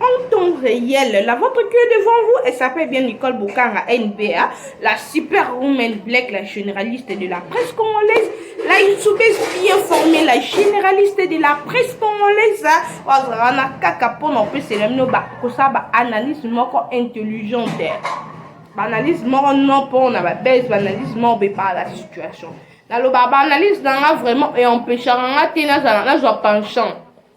en temps réel. La vôtre qui est devant vous, elle s'appelle bien Nicole Boukara, NBA, la super woman black, la généraliste de la presse congolaise, la youtubese bien formée, la généraliste de la presse congolaise, wazana kaka pono pe selamino ba kosa ba analyse moko intelligente. Ba analyse moko non pour na ba base, ba analyse moko be par la situation. Naloba ba analyse nanga vraiment et empêchera nga te nazala nazwa penchant.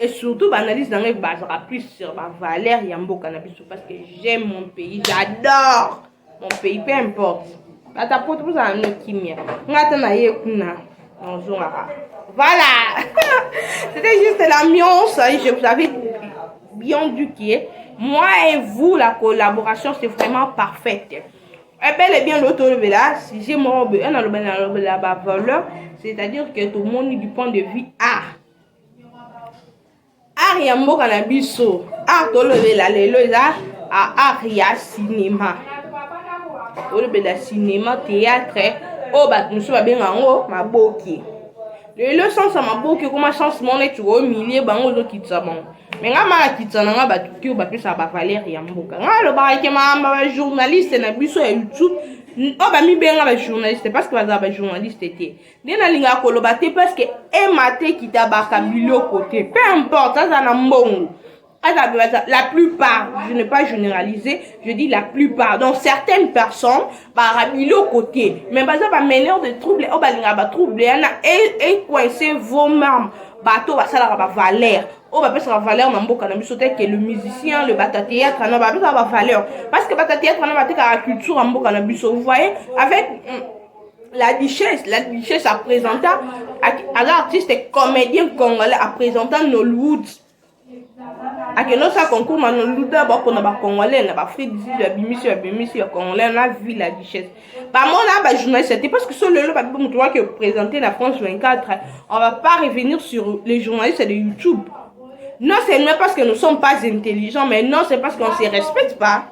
et surtout baanalyse na ngai bazalaka plus sur bavaleur ya mboka na biso parce que j'aime mon pays j'adore mon pays peu importe ata poto bozala no kimia ngai ata na ye kuna nazongaka voilà c'était juste l'ambiance je vous avais bien du qui est moi et vous la collaboration c'est vraiment parfaite ebele eh bien loto olobela sujet moko boye nalobela nalobela bavaleur c'est à dire que tomoni du point de vue art art ya mboka na biso art tolobela lelo eza art ya sinema tolobela sinema théâtre oyo bato mosusu babenga yango maboke lelo sansa maboke ekoma sanse moko neti omilie bango ozokitisa bango me ngai malakitisa na ngai bato te oyo bapesaka bavaleri ya mboka ngai alobaka ke maamba bajournaliste na biso ya youtube oyo bamibenga bajournaliste parce que bazala bajournaliste te nde nalingaka koloba te parceke ema te kitabaka biloko te peu importe aza na mbongo aza la plupart je ne pas généraliser je dis la plupart donc certaines personnes bara biloko te mais baza bameneur de trouble oyo balingaka batrouble yana ecoince e vos mame bato oyo basalaka bavaleur oyo bapesaka valeur na mboka na biso teke le musicien le bata théâtre na bapesaka bavaleur parce que bata théâtre na batekaka culture ya mboka na biso vous voyez avec mm, la duchesse la duchesse apresenta aza artiste comédien congolais apresenta nollywood akende osala concours ma nollywood na bapona bacongolais na baafrique du sud babimisi babimisi ya congolais na ville la duchesse bamona bajournaliste te parce que so lelo babi moto waki opresente na france 24 on va pas revenir sur les journalistes de youtube non c'est non parce que nous sommes pas intelligents mais non c'est parce qu'on se respecte pas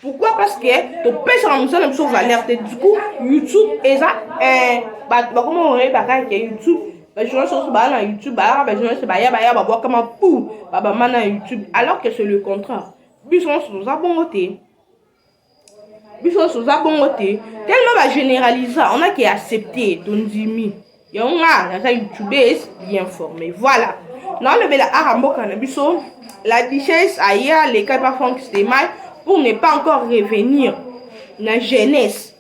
pourquoi parce que topesaka mosala biso valeur te du coup youtube eza eh, bato bakoma oyebaka ke youtube bajournaliste oso baya na youtube bayaka bajournaliste baya baya babwakama pu babama na youtube alors que c'est le contraire biso nyonso toza bongo te biso nyonso toza bongo te tellement bagénéralisa on a ke accepte tondimi yango nga naza youtubes bien formé voilà naolobela aka mboka na biso la duchesse aya leka epa frank stemay pour ne pas encore revenir na jeunesse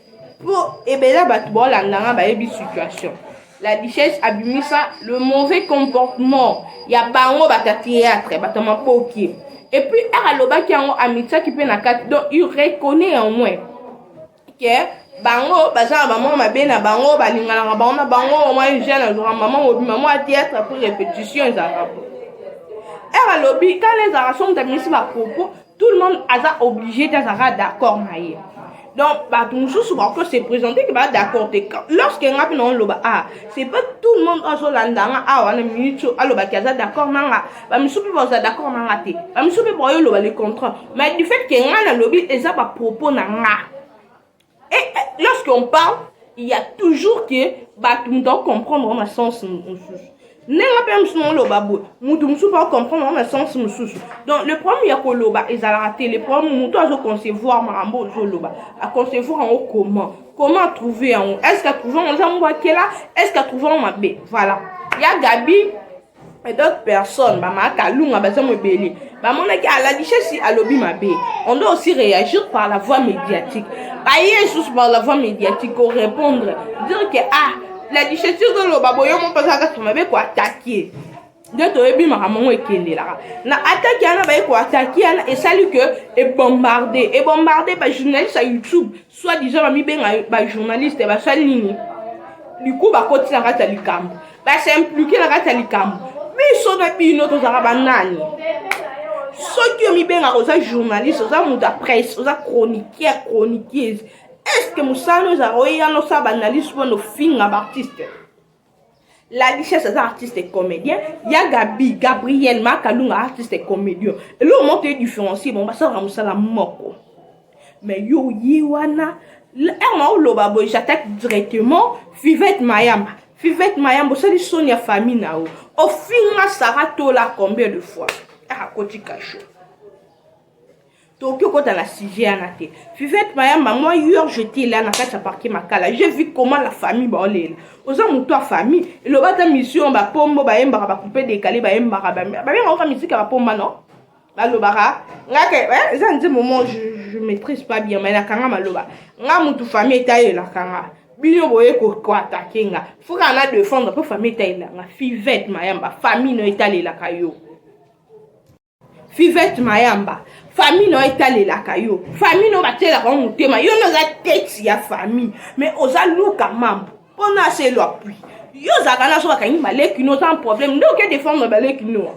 po ebela bato baolanda nga bayebi situation la duchesse abimisa le mauvais comportement ya bango bato ya théâtre bato ya maboki epuis aka alobaki yango amitisaki mpe na kati donc il reconnaît au moins que bango baza na bamama mabe na bango balinganaka bango na bango mama eugène azwaka mama mobima mwa théâtre apres répétition ezalaka po ere alobi kala ezalaka so moto abimisi bapropos tout le monde aza obligé te azalaka d'accord na ye donc bato mosusu bako se présente ke baa d'accord te lorsque nga mpe naoloba a ah, c'est pas tout le monde azolanda nga awa ah, na minute alobaki aza d'accord na nga bamisusu mpe baza d'accord na nga te bamisusu mpe baoyoloba le contraire mais du fait que nga nalobi eza ba propos na nga et, et lorsque on parle il y a toujours que bato moto aocomprendre na sens mosusu ndenge mpe mosusu naoloba boye moto mosusu mpe acomprendre yango na sens mosusu donc le problème ya koloba ezalaka te le problème moto azoconcevoir makambo ozoloba aconcevoir yango comment comment atrouve yango est ce que atrouve yango eza mbwakela est ce que atrouve yango mabe voilà ya gabi et d'autres personnes bamaka kalunga baza mobele bamonaki alalishasi alobi mabe on doit aussi réagir par la voie médiatique baye lisusu par la voie médiatique korépondre dire que ah la lichesi ozoloba boye mo mpenza kaka mabe koatake nde toyebi makambo yango ekendelaka na atake wana baye koatake wana esali ke ebombarde ebombarde bajournaliste ya youtube soit disant bamibenga bajournaliste basali nini liku bakoti na kati ya likambo ba s'impliquer na kati ya likambo biso na bino tozalaka banani soki yo mibengaka oza journaliste oza moto ya presse oza chroniqueur chroniqueuse est ce que mosala no ezalaka oyeya nosala baanalyse wana ofinga baartiste la richesse aza artiste et comédien ya gabi gabriel makalunga artiste et comédien eloko moko toye différencie bango basalaka mosala moko mais yo ye wana heure na oloba boye j'attaque directement fivette mayamba fivette mayamba osali soni ya famille na yo ofinga sara tola combien de fois akoti ah, kasho tokoki okota na sujet yana te fivette mayamba moi hier j'étais là na kati ya parquet makala j'ai vu comment la famille baolela oza moto ya famille eloba ata mission bapombo bayembaka bakupe dekale bayembaka babengaka oka miziki ya bapomba non balobaka nga ke eh, eza nze moment je, je maîtrise pas bien mais nakanga maloba nga mutu famille etayelaka nga bino boye koatake nga foka na defendre mpo famille etalela nga fivete mayamba famille no etalelaka yo fivete mayamba famille no etalelaka yo famille no batielaka yo motema yo no oza tete ya famille mais oza luka mambo mpo na selo apui yo ozalaka na so bakangi baleki no oza na problème nde oke defendre baleki noa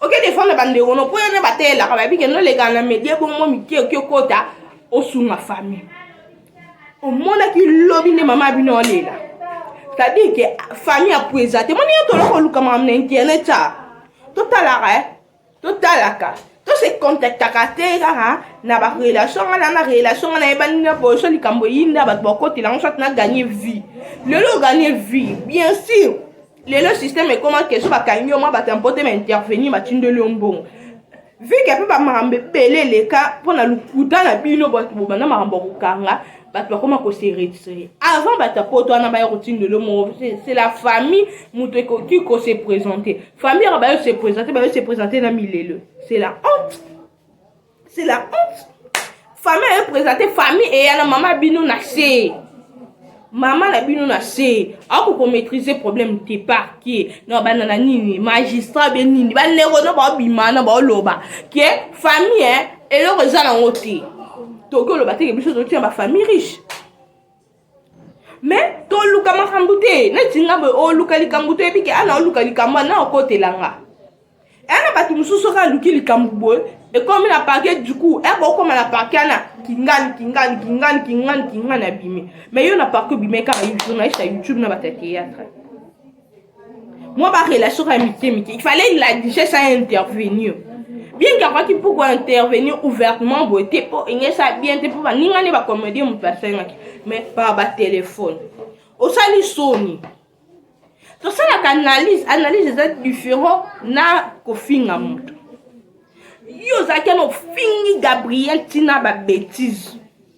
oke defendre bandeko no mpo yana bateyelaka bayebi kende olekana na media bongo mike oki okota osunga famille omonaki lobi nde mama bino olela c'est-à-dire ke famille apueza te moni yo toloko oluka makambo na internet a totalaka e eh? totalaka tose contactaka te kaka na barelation nga na relation nga nayebani na boso likambo eyinda bato bakotela yango soit na gagne vie lelo oganye vie bien sûr lelo système ekoma keso bakangi yo mwa bato ya mpote baintervenir batindeli yo mbongo vike mpe bamakambo ebele eleka mpo na lokuta na bino bato bobanda makambo ya kokanga bato bakoma kose retire avant bato ya poto wana baya kotindelo moko c'est la famille moto ekoki kose présente famille yaka bayo se présente bayo se présente na milelo c'est la honte c'est la honte famille aye présente famille eya na mama bino na se mama na bino na se ako komaîtrise problème te par ke na bana na nini magistrat be nini bandeko no baobima na baoloba ke famille eh, eloko eza nango te toki oloba teke biso totina bafamille riche mais toluka makambo te neti nga boye oluka likambo toyebi ke ana oluka likambo ana okotela nga ana bato mosusu soki aluki likambo boye ekomi na parke du coup eko okoma na parke ana kingani kingani kingani kingani kingani abimi mais yo na parke obimai kaka journaliste ya youtube na bato ya théâtre mwa ba relation ya mike mike il fallait il a déjà ça intervenir bien que akoki mpo kointervenir ouvertement boye te mpo engesa bien te mpo baninga nde bakomedie moto asengaki mais par batelefone osali soni tosalaka analyse analyse eza différent na kofinga moto yo ozalaki na ofingi gabriel ntina babetise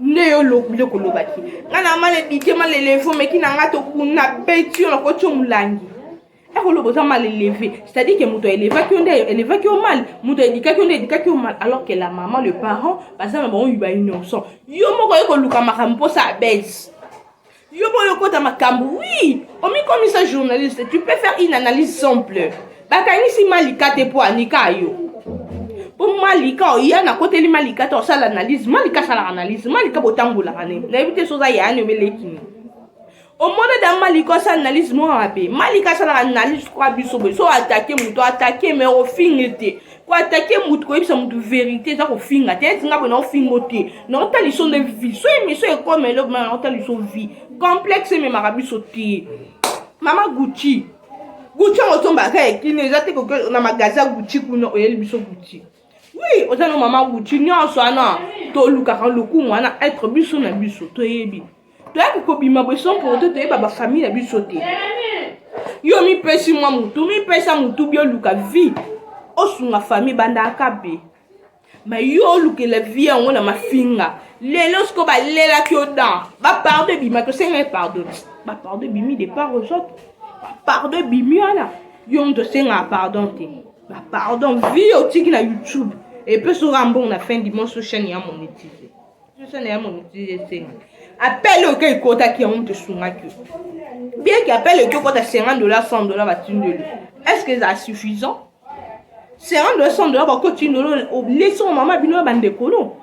nde yo biloko olobaki nga na mala edike mala eleve omeki na nga tokuna beti yo nakoti yo molangi ekoloba oza mal eleve c'est-à-dire ke moto elevaki yo nde elevaki yo mal moto edikaki yo nde edikaki yo mal alors ke la maman le parent baza na bango ba innocent yo moko ye koluka makambo mposa abese Yo boyo kota makambo. Oui, omikomisa journaliste, tu peux faire une analyse simple. Bakangisi Malika te po anika yo. po malika oya nakoteli malika te osala analyse malika asalaka analyse malika botambolaka ne nayebi te soza yaani omelekini omona da malika asala analyse moko mabe malika asalaka analyse kwa biso boye so atake moto atake me ofingi te koatake motu koyebisa motu verité eza kofinga te eti nga boye naofingo te naotala liso nde vie so emission ekoma eloko mana naotala liso vie complexe ememaka biso te mama gucci gucci yango ozombaka ya kino eza te koke na magazi ya gucci kuna oyeli biso gucci wi oza no mama gucci nyonso wana tolukaka lokumu wana etre biso na biso toyebi toyaki kobima bweso mpoko te toyeba bafamille na biso te yo mipesi mwa motu mipesa motu bioluka vie osunga famille bandaka mpe ma yo olukela vie yango na mafinga lelo siko balelaki yo dan bapardo ebima tosengaki pardon bapardo ebimi de part aux autres bapardo ebimi wana yo moto osengaka pardon te bapardon vie otiki na youtube epesoka mbongo na fin dimanche chaine ya monetise Sasa na yamo nitiye senga. Appel oyo kai kota ki yango mtu sunga ki. Bien que appel oyo kota 50 dollars 100 dollars ba tindeli. Est-ce que ça suffisant? 50 dollars 100 dollars ba ko tindeli au leçon maman bino ba ndekolo.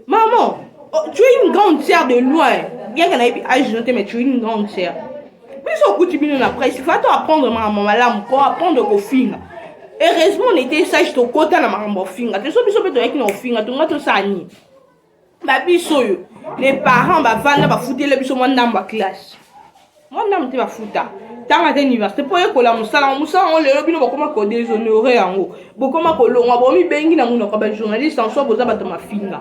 Maman, oh, tu es une grande sœur de loin. Bien que na yebi age note mais tu es une grande sœur. biso okuti bino na presse fa to apprendre makambo malamu ko apprendre kofinga heureusement on était sage tokota na makambo ofinga te so biso mpe toyaki na ofinga tonga tosala nini babiso oyo les parents bavanda bafutela biso mwa ndambo ya classe mwa ndambo te bafuta ntango ata université mpo yekola mosala yango mosala yango lelo bino bokoma kodeshonore yango bokoma kolongwa bomibengi na monoko ya bajournaliste en soi boza bato mafinga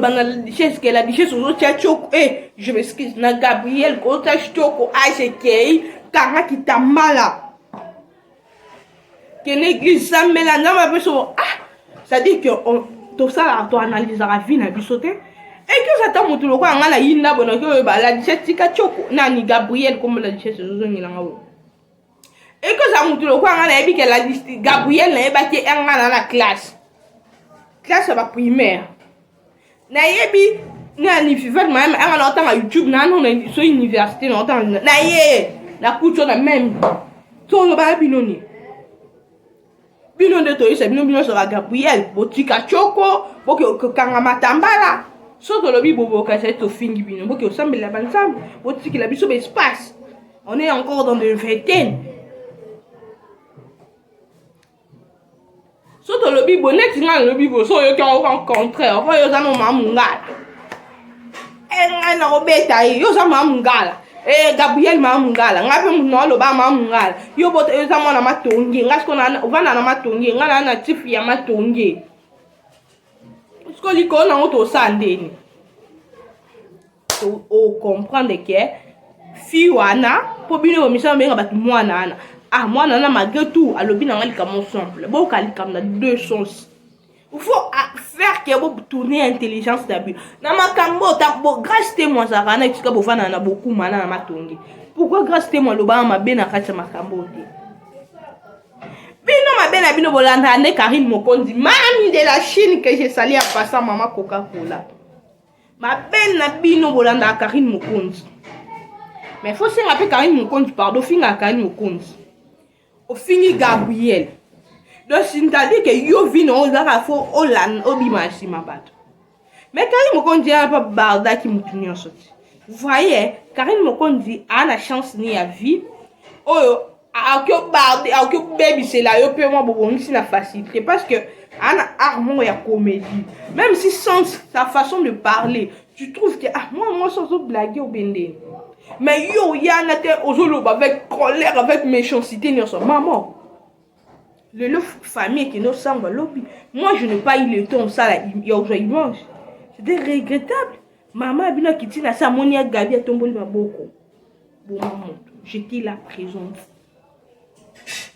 bana duchesse ke la duchesse ozotia tioko e eh, je m'excuse na gabriel ozotia tioko age ekei kanga kitambala kende eglise sambela nzambe apeso ah c'est-à-dire que tosalaka toanalysaka vie na biso te ekioso ata motu lokola ngai nayinda bonoki oyo baladise tika tioko nani gabriel kombo la duchesse ezozongela ngai oyo ekozala motu lokola ngai nayebi ke ladisti gabriel nayebaki ye ngai na na classe classe ya baprimaire nayebi na nifivet mayame anga na otanga youtube nano so université na otanga na ye na kuto na meme so olobaka bino nini bino nde toyisa bino bino soka gabriel botika coko boke kokanga matambala soki olobi boboka ezali tofingi bino boke osambela banzambe botikela biso baespace on est encore dans de vingtaine so tolobi bo neti ngai nalobi bo so oyoki yango ka contraire oyo oza nomamungala engai eh, nakobeta ye yo oza maa mungala eh, gabriel maa mungala ngai mpe moto naoloba maa mungala yo bota yo oza mwana matonge ngai siko ovanda na matonge ngai naa na tifi ya matonge siko likolo nango tosala ndeni ocomprendre ke fi wana mpo bino komisala obenga bato mwana wana ah mwana wana malgré tout alobi na ngai likambo simple boyoka likambo na deux sens faut faire que bo tourner intelligence na bino na makambo bo grace te mwa azalaka na esika bovanda na bokuma na na matongi pourquoi grace te mwa alobaka mabe na kati ya makambo te bino mabe na bino bolandaka nde karine mokonzi mami de la chine que je sali ya pasa mama coca cola mabe na bino bolandaka karine mokonzi mais fo senga mpe karine mokonzi pardon fingaka karine mokonzi ofingi gabriel donc sintadi ke yo vi na ozaka fo olanda obima nsima bato me karine mokonzi ya pa bardaki motu nyonso te voye karine mokonzi aa na chance ni ya vie oyo akoki obarde akoki obebisela yo mpe mwa bobongisi na facilité parce que ana art moko ya comédie même si sans sa façon de parler tu trouves que ah moi moi ozo blague ou bende mais yo yana te ozo loba avec colère avec méchanceté nionso maman lelo famille ekende osamba lobi moi je n'ai pas eu le temps osala ya ozwa image c'était regrettable mama ya bino akiti na se amoni ya gabi atomboli maboko boma moto jete la présence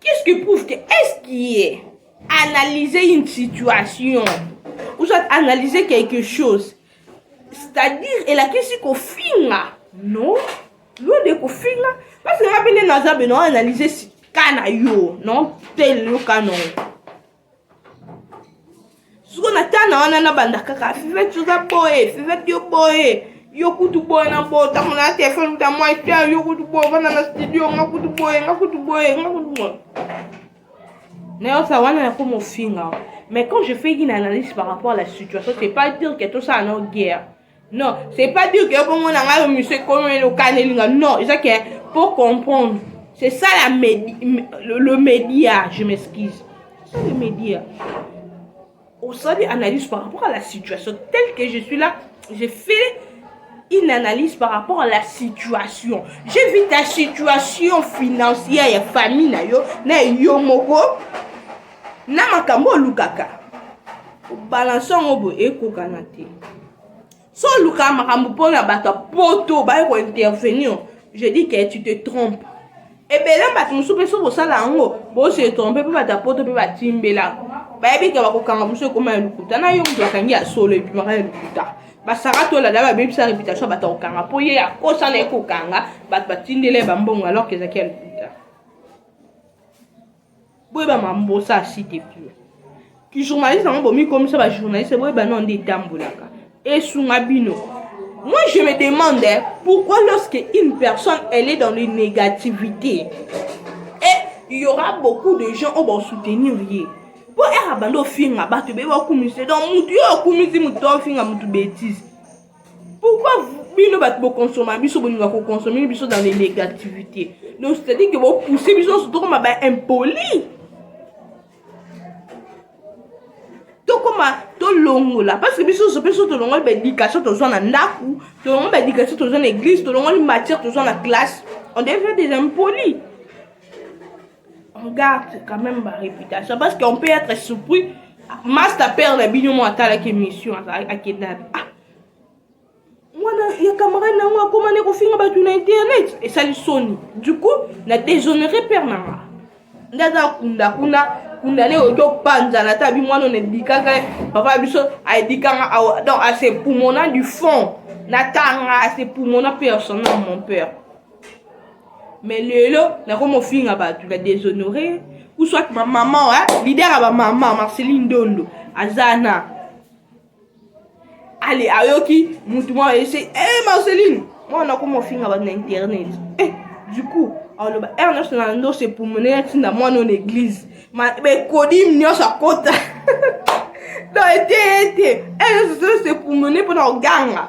Qu'est-ce qui prouve que est-ce qui est analyser une situation ou soit analyser quelque chose c'est-à-dire elakisi kofinga non lo de kofinga parce que nga mpe nde naza beno analyse ka na yo non tel yo ka na yo siko na tana wana nabanda kaka fivete oza boye fivete yo boye yo kutu boye na boye ntango na telefone kuta mwa ete yo kutu boye ofanda na studio nga kutu boye nga kutu boye nga kutu boye nayosa wana nakoma ofinga mais quand je fais une analyse par rapport à la situation c'est pas dire que tosala nao guerre non c'est pas dire que bongo na ngai monsieur ekomi elokani elinga non eza ke pour comprendre c'est ça la medi, le, le média je m'excuse ça le média osali analyse par rapport à la situation telle que je suis là j'ai fait une analyse par rapport à la situation j'ai vu ta situation financière ya famille na yo na yo moko na makambo olukaka obalanse yango boye ekokana te so olukaka makambo mpo na bato ya poto baye kointervenir je dis que tu te trompe ebele bato mosusu mpe so bosala yango bose trompe mpe bato ya poto mpe batimbela bayebi ke bakokanga mosusu ekoma ya lokuta na yo moto bakangi ya solo ebimaka ya lokuta basaka tolada babebisa reputation bato akokanga mpo ye akosana ekokanga bato batindela ye bambongo alors ke ezalaki ya lokuta boyeba mambosa asi te pio journaliste yango bomikomisa bajournaliste boyeba nao nde etambolaka esunga bino moi je me demande pourquoi lorsque une personne elle est dans le négativité et il y aura beaucoup de gens oyo basoutenir ye mpo ere abandi ofinga bato beye bakumisi donc motu yo akumisi motu to ofinga motu bétise pourquoi bino bato bokonsoma biso bolinga kokonsome biso dans les négativités donc c'est-à-dire que bopousse biso nyonso tokoma baimpoli tokoma tolongola parce que biso nyonso mpe so tolongoli baéducation tozwa na ndako tolongoli baéducation tozwa na église tolongoli matière tozwa na classe on devient des impolis on garde quand même ba réputation parce qu'on peut être surpris master père na bino mo atalaki émission akenda ah mwana ya camarade na yango akoma nde kofinga bato na internet esali soni du coup na déshonore père na nga nde aza kunda kuna kunda nde oyo topanzana ata bi mwana onedikaka papa biso aedikanga donc asepumona du fond natanga asepumona mpe asona mon père mais lelo nakomi ofinga bato na déshonore ou soit bamama wa lider ya bamama marceline dondo aza na ale ayoki motu mwa ese e eh, marceline mwana nakomi ofinga bato na internet eh, du coup aloba r national ndo se pumone atinda mwana ona église bekodime nyonso akota donc ete ete r national se pumone mpona koganga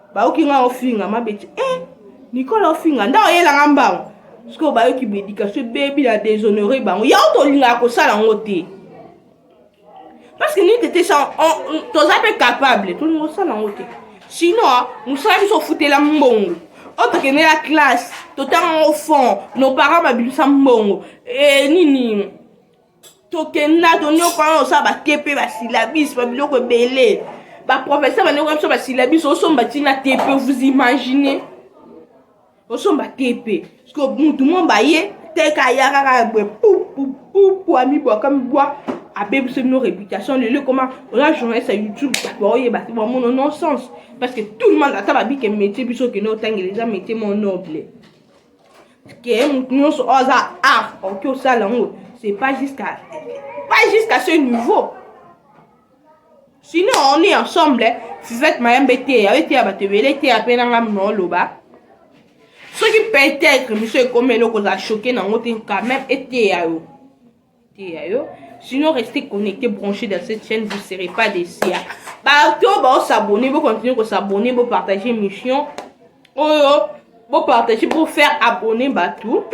bayoki nga ofinga mabeti eh, nikola ofinga nda oyela nga mbango sikoyo bayoki baéducation ebebi na déshonore bango yango tolingaka kosala yango te parce que nini tete toza mpe capable tolinga kosala yango te sinon mosala biso ofutela mbongo oyo tokende na classe totanga yango fond nos parents babimisa mbongo e nini tokenda tonyokola osala batepe basilabisi babiloko ebele baprofesseur banyokola biso basilabisi osomba ntina tepe vous imagine osomba tepe siko mutu mo baye teka ya kaka boye pupupupu amibwaka mibwa abebisi bino réputation lelo ekoma oza journaliste ya youtube bato baoyeba te bamono non sens parce que tout le monde ata babike métier biso okende otangela eza métier mo noble ke motu nyonso oyo aza art oki osala yango c'est pas jusqu'à pas jusqu'à ce niveau sinon on est ensemble fivette mayambe eteya eteya bato ebele eteya mpe na ngai mna oloba soki peut-être miso ekomi eloko ozala choke nango te quand même eteya yo ya yo sinon reste connecté branché dans cette chaîne vous serez pas déçu ya bato oyo baosabonne bocontinue kosabonne bopartage émission oyo bopartage bofaire abonne bato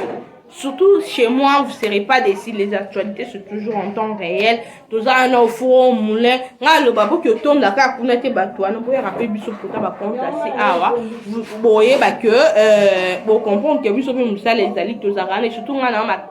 surtout chez moi vous serez pas déçu les actualités sont toujours en temps réel toza wana ofuro moulin nga aloba boki otonda kaka kuna te bato wana boyaka mpe biso mpota bacompte asi awa boyeba ke euh, bocomprendre ke biso mpe mosala ezali tozalaka na surtout nga na